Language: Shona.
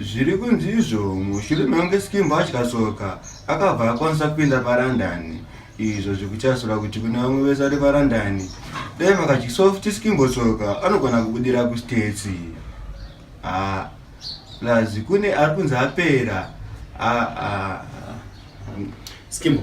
Zviri kunzi izvo mushure mekunge Skimbo atyasoka akabva akwanisa kupinda parandani izvo zvikuchasura kuti kune vamwe vese vari parandani dai makadyisawo futi Skimbo soka anogona kubudira kustates ha plus kune ari kunzi apera aa Skimbo